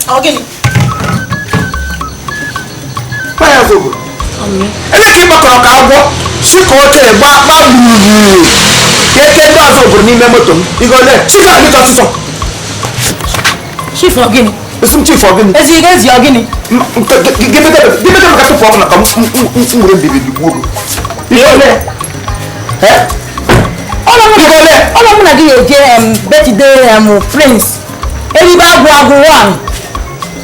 Ọ gịnị? Paya zobo. Lee ka ị gbakọrọ ka agwọ si ka o tere gbaa gbaa gburugburu ka eke ndị Ozubulu n'ime moto m. Ego ole? Chika biko ọsịsọ. Chief ọ gịnị? Ị sị m chief ọ gịnị? Ezi ga ezi ọ gịnị? Gịnị ka maka tupu ọ bụla ka m were mbibi bigbuo gị? Ego ole? Ọlọ mụ na gị ga-eje birthday prince. Eribe agwụ agwụ one.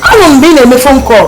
Anụ mgbe ị na-eme phone call.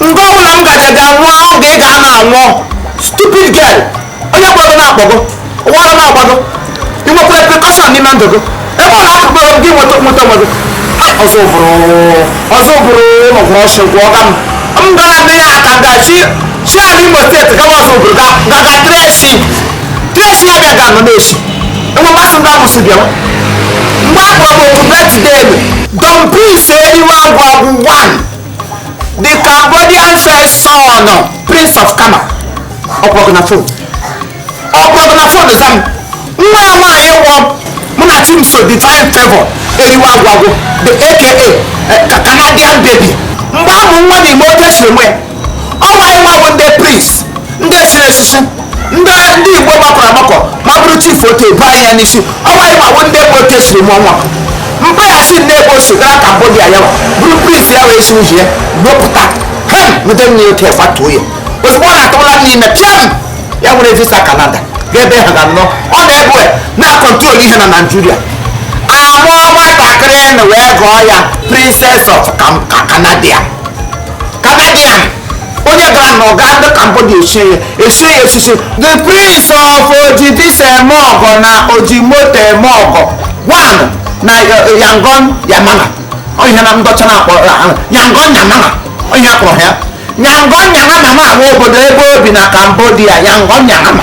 nke ọbụla m gaja ga nwụọ ahụ ga ị ga na anwụọ stupid girl onye kpọrọ gị na-akpọ gị ọ wụ ara na-agba gị i nwekwara precaution n'ime ndụ gị ebe ọ na-akụkọ ebe gị nweta nweta onwe gị ozubulu ozubulu ụlọgwụrụ ọchị gwụ ọga m m gara nne ya aka nga chi chi ala imo state gawa ozubulu ga ga ga trace trace ya bịa ga nọ na-esi enwe mmasị ndị amụsụ bịa mgbe a kpọrọ m otu birthday ebe don prince eriwe agwụ agwụ one the cambodian first son prince of kama ọ kpọrọ gị na phone ọ kpọrọ gị na phone zaa m nwa ya nwaanyị wụ munachimso divine favor eriwe agwụ agwụ the aka eh, ka canadian baby mgbe a mụ nwa na ime oke siri nwe ọ nwa ya nwa bụ ndị prince ndị siri esisi ndị ndị igbo gbakọrọ agbakọ ma bụrụ chief oke bụ anyị ya n'isi ọnwa ya gbawo ndị ebe oke siri mụọ nwa mgbe ya si ndị ebe o si gara cambodia ya nwa bụrụ prince ya wee si uhi ya wepụta hem nweta nne oke gbatuo ya ozugbo ọ na-atụla n'ime pịam ya were visa canada ga ebe ha ga-anọ ọ na-ebu na-acontrol ihe na nigeria a mụọ nwatakịrị na wee gụọ ya princess of Cam- Ca- canadian canadian onye gara na nga ndị cambodia esie ya esie ya esisi the prince of ojibis eme ọgọ na oji moto eme ọgọ one na eh, yangon yamana ọ ihe ndị ọcha na-akpọ eh, ah, yangon yamana ọ ihe a kpọrọ ya yangon yanama ma bụ obodo ebe o bi na cambodia yangon yanama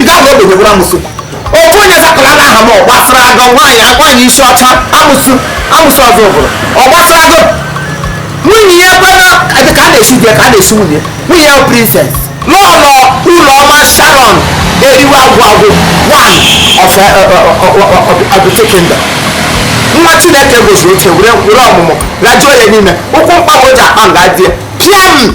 ị gaghị oge gị gwara amụsụ ofu onye zapụla na aha m ọ gbasara gị nwaanyị agwaghị isi ọcha amụsụ amụsụ ozubulu ọ gbasara gị nwunye ya gbana ka a na-esi di ya ka a na-esi nwunye nwunye ya princess lọlọ ụlọma sharon eriwe agwụ agwụ one of uh, uh, uh, abụte kingdom nwa chineke gọziri oche were were ọmụmụ gbajuo ya n'ime ukwu mkpagbu ji akpa nga di ya pịam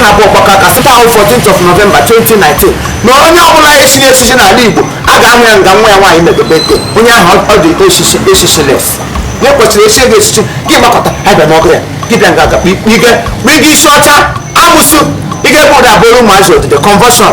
ha bụ ọgbakọ aka sịkwa ahụ 14th of November 2019 na onye ọbụla e chiri echichi n'ala Igbo a ga-ahụ ya nga nwa ya nwaanyị medobe ego onye ahụ ụdị echichi echichi les ya kwesịrị ichi ego echichi gị gbakọta abịa n'ọgụ ya gị bịa nga aga kpige kpige isi ọcha amụsụ ị ga-ebe ụda abụrụ ụmụazị odide conversion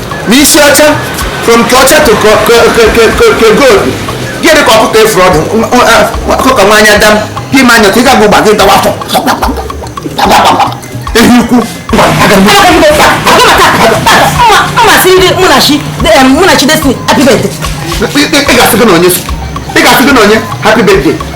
n'isi ọcha from ke ọcha to ke gold gịnị ka ọkụkọ efuru ọdụ ọkụkọ nwa anya dam gị ma anya ka ị ga-agba ụgba gị dawa afọ ehi ukwu ị ga-asị gị na onye ị ga-asị gị na onye happy birthday